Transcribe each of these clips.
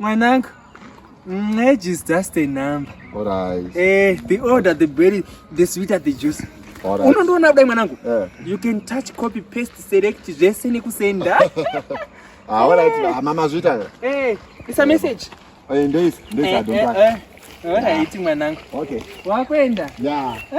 Mwanangu, age is just a number. All right. Eh, the older the berry, the sweeter the juice. All right. Unondoona kudai mwanangu. Yeah. You can touch, copy, paste, select zvese nekusenda. Ah, all right. Hey. Mama zvita. Eh, it's a message. Eh, ndeis, ndeis eh, adonga. Eh, eh. eh. All right, mwanangu. Okay. Wakwenda? Yeah. Eh.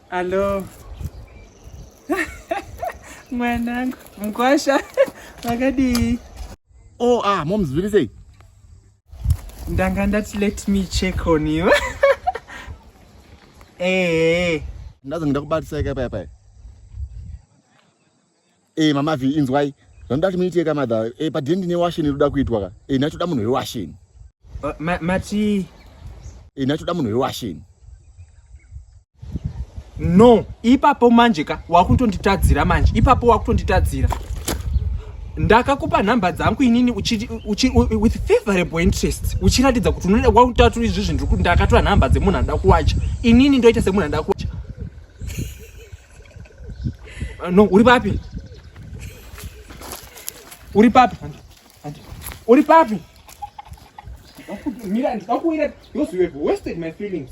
Hello. Mwanangu, mkwasha. Makadii? Oh, ah, mom zviri sei? Ndanga ndati let me check on you. Eh. eh. Ndazo ndakubatisai kai pai pai. Eh mama vi inzwai. Vanoda kuti muite ka mother. Eh pa dindi ne washen inoda kuitwa ka. Eh nacho da munhu we washen. Uh, ma, mati Eh nacho da munhu we washen. No, ipapo manje ka wakutonditadzira manje. Ipapo wakutonditadzira. Ndakakupa nhamba dzangu inini uchi, uchi, with favorable interest uchiratidza kuti unoda kwakutatura izvi zvinhu ndakatora nhamba dzemunhu anoda kuwacha inini ndoita semunhu anoda kuwacha Ah, no, uri papi? Uri papi? Uri papi? Mira, ndakuwira, those you have wasted my feelings.